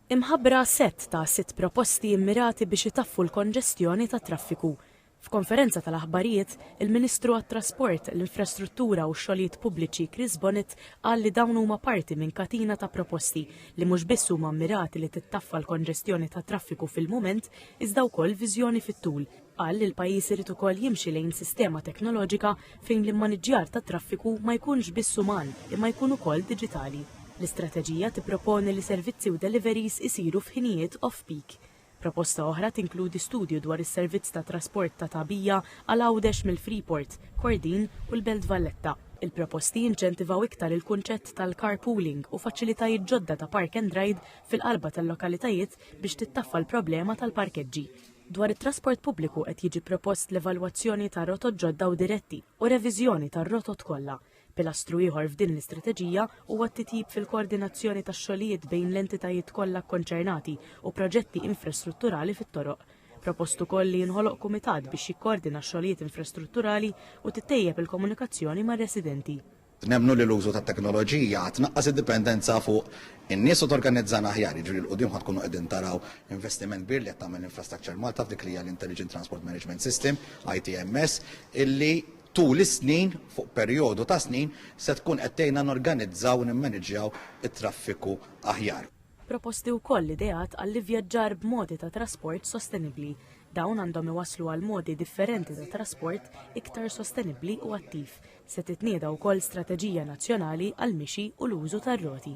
Imħabbra sett ta' sitt proposti immirati biex itaffu l-konġestjoni tat-traffiku. F'konferenza tal-aħbarijiet, il-Ministru għat-Trasport, l-Infrastruttura u x-Xogħlijiet Pubbliċi Chris Bonnet qal li dawn huma parti minn katina ta' proposti li mhux biss huma mmirati li tittaffa l-konġestjoni tat-traffiku fil-mument iżda wkoll viżjoni fit-tul. Qal li l-pajjiż irid ukoll jimxi lejn sistema teknoloġika fejn l-immaniġġjar tat-traffiku ma jkunx biss uman imma jkun ukoll diġitali. L-istrateġija tipproponi li servizzi u deliveries isiru f'ħinijiet off-peak. Proposta oħra tinkludi studju dwar is-servizz ta' trasport ta' tagħbija għal Għawdex mill-Freeport, Kordin u l-Belt Valletta. Il-proposti jinċentivaw iktar il-kunċett tal-carpooling u faċilitajiet ġodda ta' park and ride fil-qalba tal-lokalitajiet biex tittaffa l-problema tal-parkeġġi. Dwar it-trasport pubbliku qed jiġi propost l-evalwazzjoni ta' rotot ġodda u diretti u reviżjoni tar-rotot kollha. Pilastru ieħor f'din l-istrateġija huwa t-titjib fil-koordinazzjoni tax-xogħlijiet bejn l-entitajiet kollha kkonċernati u proġetti infrastrutturali fit-toroq. Propost ukoll li jinħoloq kumitat biex jikkoordina x-xogħlijiet infrastrutturali u tittejjeb il-komunikazzjoni mar-residenti. Nemmnu li l-użu tat-teknoloġija għad naqqas id-dipendenza fuq in-nies u torganizzana aħjar, jiġifieri 'l quddiem ħa tkunu qegħdin taraw investiment kbir li qed tagħmel Infrastructure Malta f'dik li hija l-Intelligent Transport Management System, ITMS, illi tul is-snin, fuq perjodu ta' snin, se tkun qed tgħinna norganizzaw u nimmaniġġjaw it-traffiku aħjar. Proposti wkoll ideat għall-ivvjaġġar b'modi ta' trasport sostenibbli. Dawn għandhom iwasslu għal modi differenti ta' trasport iktar sostenibbli u attiv, Se titnieda wkoll strateġija nazzjonali għall-mixi u l-użu tar-roti.